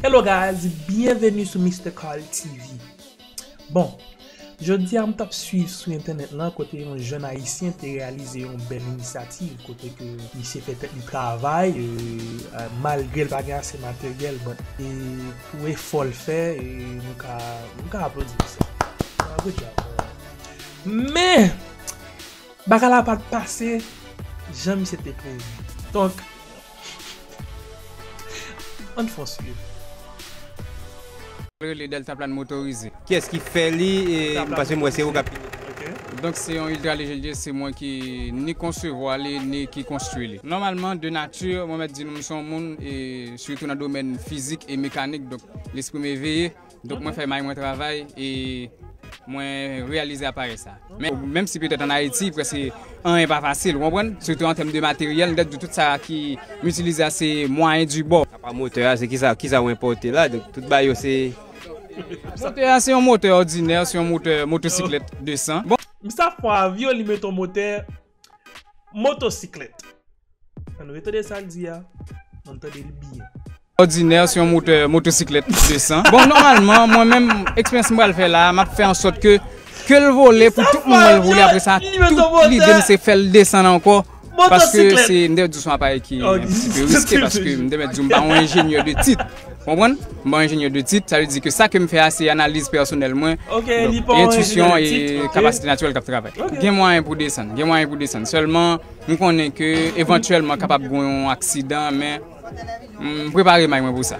Hello guys, byenveni sou Mister Carl TV Bon, jodi a m t ap swiv sou entènèt lan kote yon jèn ayisyen te reyalize yon bèl inisyativ kote ke misye fè tèt li travay malgre l pa gen ase materyèl but pou efò l fè nou ka nou ka aplodi misye good job men bagay la pa t pase jan misye te prevu donk Ann fon swiv. Rele deltaplan motorize. Kiyes ki fè li paske m wè se ou kap fini li. Donk se yon ultra lejè liye se mwen ki ni konsevwa li ni ki konstwi li. Nòmalman de nati mwen mèt di nou m se yon moun sitou nan domèn fizik e mekanik donk lespri m eveye. Donk mwen fè may mwen travay e mwen reyalize aparèy sa. Men, menm si petèt an Ayiti prèske anyen pa fasil, ou konprann? Sitou an tèm de materyèl, m ta di tout sa ki m itilize a se mwayen di bò. Apa motè a, se ki sa, ki sa ou enpòte la? Donk tout bagay yo se. Motè a se yon motè òdinè, se yon motè motosiklèt 200. Bon. Msafwa avyon li met yon motè Motosiklèt. An nou retande sa l di a, an n tande l byen. Òdinè sou yon motè motosiklèt 200. Bon, nòmalman, mwen menm, eksperyans m pral fè la a, m ap fè an sòt ke ke l vole pou tout moun wè l vole. Apre sa, tout lide m se fè l desann ankò paske se, m te mèt di w se yon aparèy ki antisipe riske paske m te mèt di w m pa yon enjenyè de tit. Konprann? M pa yon ingénieur de titre, sa vle di ke sa ke m fè a se analiz pèsonèl mwen, entuisyon e kapasite natirèl k ap travay. Gen mwayen pou desann, gen mwayen pou desann, sèlman m konnen ke evantyèlman kapab gen yon aksidan men m prepare may mwen pou sa.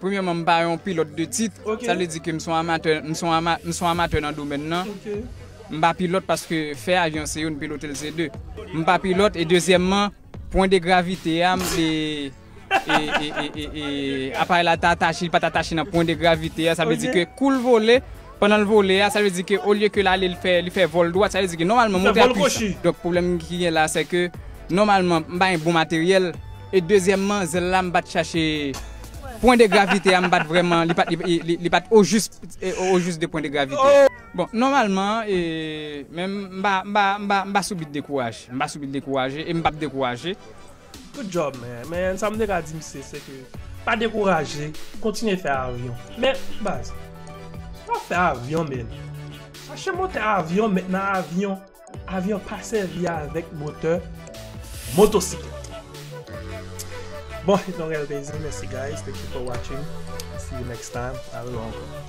Premyèman, m pa yon pilòt de tit. Sa vle di ke m son amatè nan domèn nan. M pa pilòt paske fè avyon se youn, pilote l se de. M pa pilòt e dezyèmman, pwen de gravite a, m se aparèy la ta atache, li pa ta atache nan pwen de gravite a. Sa vle di ke kou l vole, Pandan l vole a, sa vle di ke olye ke l ale li fè vòl dwat, sa vle di ke nòmalman moteur a pwisan. Donk pwoblèm ki gen la se ke nòmalman m pa gen bon materyèl e dezyèmman zèl la m pa t chache pwen de gravite a m pa t vrèman li pa t ojis ojis de pwen de gravite a. Bon nòmalman e men m pa m pa m pa m pa sou bit dekouraje m pa sou bit dekouraje e m p ap dekouraje. Good job man, men sa m te ka di misye se ke pa dekouraje, kontinye fè avyon. Men baz, si wap fè avyon men, chache motè avyon met nan avyon, avyon pa sèvi avèk motè motosiklèt. Bon, se te yon rèl plezi, mèsi guys, thank you for watching, see you next time, a revo ankò.